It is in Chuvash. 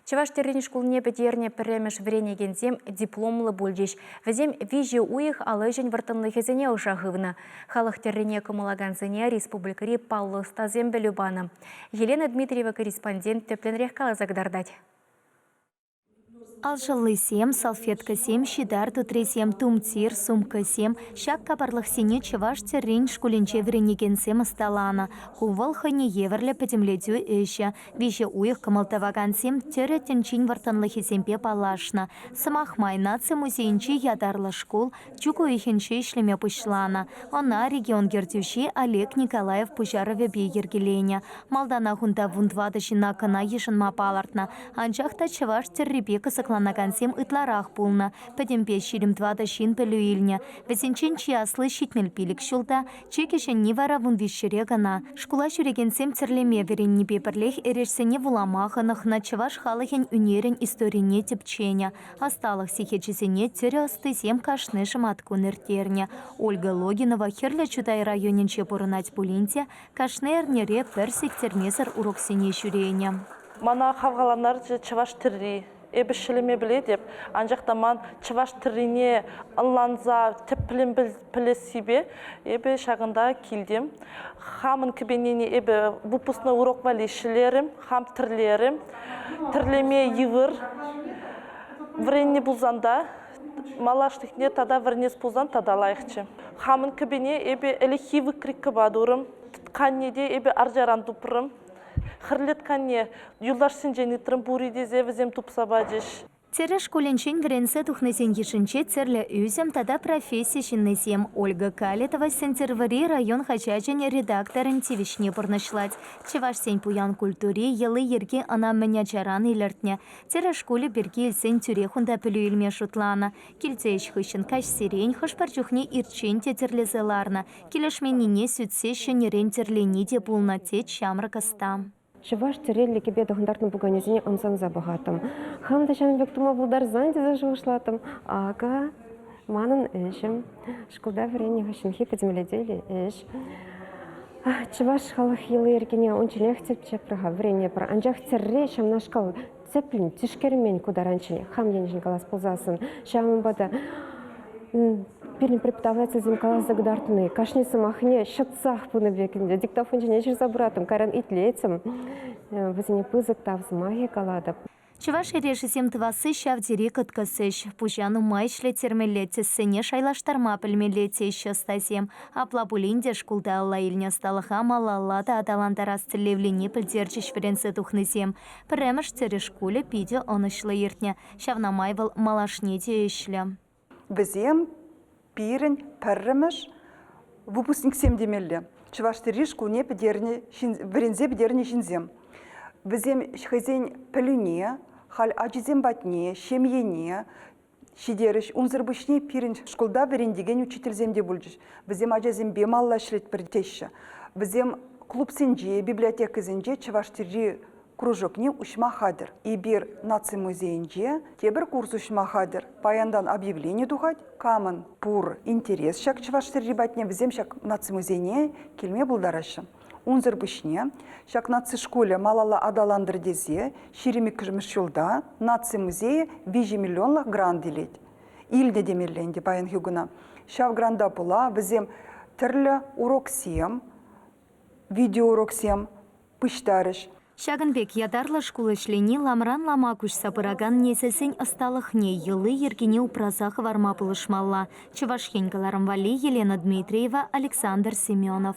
Чӑваш тӗррин шкулне пӗтернӗ пӗрремӗш вӗренекенсем дипломлӑ пулчӗҫ. Вӗсем виҫӗ уйӑх ал ӗҫӗн вӑрттӑнлӑхӗсене ӑша хывнӑ. Халӑх тӗррине кӑмӑллакансене республикӑри паллӑ ӑстасем пӗлӳ панӑ. Елена Дмитриева корреспондент тӗплӗнрех каласа кӑтартать. Алшӑллисем, салфеткӑсем, ҫитар тутрисем, тумтир, сумкӑсем – ҫак капарлӑхсене Чӑваш тӗррин шкулӗнче вӗренекенсем ӑсталанӑ. Ку вӑл хӑйне евӗрлӗ пӗтӗмлетӳ ӗҫӗ. Виҫӗ уйӑх кӑмӑл тӑвакансем тӗрӗ тӗнчин вӑрттӑнлӑхӗсемпе паллашнӑ. Сӑмах май, наци музейӗнче ятарлӑ шкул чӳк уйӑхӗнче ӗҫлеме пуҫланӑ. Ӑна регион ертӳҫи Олег Николаев пуҫарӑвӗпе йӗркеленӗ. Малтанах унта вун тӑватӑ ҫына кӑна йышӑнма палӑртнӑ. Анчах та чӑваш тӗррипе кӑсӑкланакансем ытларах пулнӑ. Пӗтӗмпе ҫирӗм тӑватӑ ҫын пӗлӳ илнӗ. Вӗсенчен чи асли ҫитмӗл пилӗк ҫулта, Чи кӗҫӗнни вара вун виҫҫӗре кӑна. Шкула ҫӳрекенсем тӗрлеме вӗреннипе пӗрлех эрешсене вулама хӑнӑхнӑ, чӑваш халӑхӗн ӳнерӗн историне тӗпченӗ, ӑсталӑх сехечӗсене тӗрӗ ӑстисем кашни шӑматкун ирттернӗ. Ольга Логинова Хӗрлӗ Чутай районӗнче пурӑнать пулин те кашни эрнере пӗр сиктермесӗр уроксене ҫӳренӗ. Мана хавхалантарчӗ чӑваш тӗрри. Эпӗ ҫӗлеме пӗлетӗп, анчах та ман чӑваш тӗррине ӑнланса тӗплӗн пӗлессипе эпӗ ҫакӑнта килтӗм. Хамӑн кӗпенене эпӗ выпускной урок валли ҫӗлерӗм, хам тӗрлерӗм. Тӗрлеме йывӑр. Вӗреннӗ пулсан та малашлӑхне тата вӗренес пулсан тата лайӑхчӗ. Хамӑн кӗпене эпӗ ӗлӗкхи выкрикӑпа турӑм. Тканне те эпӗ арчаран тупрӑм. Хӗрлетканне юлташсенчен ыйтрӑм пур-и тесе вӗсем тупса пачӗҫ. Чӗрӗ шкулӗнчен вӗренсе тухнисен йышӗнче тӗрлӗ ӳсӗм тата професси ҫыннисем, Ольга Калитова Сӗнтӗрвӑрри район хаҫачӗн редакторӗн тивӗҫне пурнӑҫлать. Чӑвашсен пуян культури йӑли-йӗрки ӑна мӗн ачаран илӗртнӗ. Тӗрӗ шкулӗ пирки илсен тӳрех унта пӗлӳ илме шутланӑ. Килти ӗҫ хыҫҫӑн каҫсерен хӑш-пӗр чухне ирччен те тӗрлесе ларнӑ. Килӗшменнине сӳтсе ҫӗнӗрен тӗрлени те пулнӑ, тет ҫамрӑк ӑста. Чӑваш тӗреллӗ кӗпе тӑхӑнтартнӑ пуканесене ӑмсанса пӑхаттӑм. Хам та ҫавӑн пек тума пултарсан тесе шухӑшлаттӑм. Акӑ, манӑн ӗҫӗм. Шкулта вӗреннӗ хыҫҫӑнхи пӗтӗмлетӳллӗ ӗҫ. Чӑваш халӑх йӑли-йӗркине унчченех тӗпчеппӗр-ха, вӗренепӗр. Анчах тӗрре ҫавнашкал Сӗппӗн, тишкермен ку таранччен хам енчен калас пулсассӑн. Ҫавӑнпа та пирӗн преподавательсем каласа кӑтартни, кашни сӑмахне ҫӑтсах пынӑ пек ӗнтӗ. Диктофон ҫине ҫырса пыратӑм, кайран итлетӗм. Вӗсене пысӑк тав сӑмахӗ калатӑп. Чӑваш эрешӗсем тӑвасси ҫав тери кӑткӑс ӗҫ. Пуҫа нумай ӗҫлеттермелле, тӗссене шайлаштарма пӗлмелле, теҫҫӗ ӑстасем. Апла пулин те шкулта алла илнӗ ӑсталӑха малалла та аталантарас тӗллевлине пӗлтерчӗҫ вӗренсе тухнисем. Пӗрремӗш Тӗрӗ шкулӗ питӗ ӑнӑҫлӑ иртнӗ, ҫавна май вӑл малашне те ӗҫлӗ. Вӗсем пирӗн пӗрремӗш выпускниксем темелле, Чӑваш тӗрри шкулне пӗтернӗ ҫын, вӗренсе пӗтернӗ ҫынсем. Вӗсем хӑйсен пӗлӳне, халь ачисем патне, ҫемьене ҫитерӗҫ. Унсӑр пуҫне пирӗн шкулта вӗрентекен учительсем те пулчӗҫ. Вӗсем ачасемпе малла ӗҫлетпӗр теҫҫӗ. Вӗсем клубсенче, библиотекӑсенче чӑваш тӗрри кружокне уҫма хатӗр. Эпир наци музейӗнче тепӗр курс уҫма хатӗр. Паянтан объявлени тухать. Камӑн пур интерес ҫак чӑваш тӗрри патне, вӗсем ҫак наци музейне килме пултараҫҫӗ. Унсӑр пуҫне ҫак наци шкулӗ малалла аталантӑр тесе ҫирӗм иккӗмӗш ҫулта наци музейӗ виҫӗ миллионлӑх грант илет. Илнӗ темелле ӗнтӗ паян Хюгана. Ҫав гранта пула вӗсем тӗрлӗ уроксем, видеоуроксем пуҫтарӗҫ. Ҫакӑн пек ятарлӑ шкул ӗҫлени ламран-лама куҫса пыракан несӗлсен ӑсталӑхне, йӑли-йӗркине упраса хӑварма пулӑшмалла, Чӑваш Ен кӑларӑм валли Елена Дмитриева, Александр Семенов.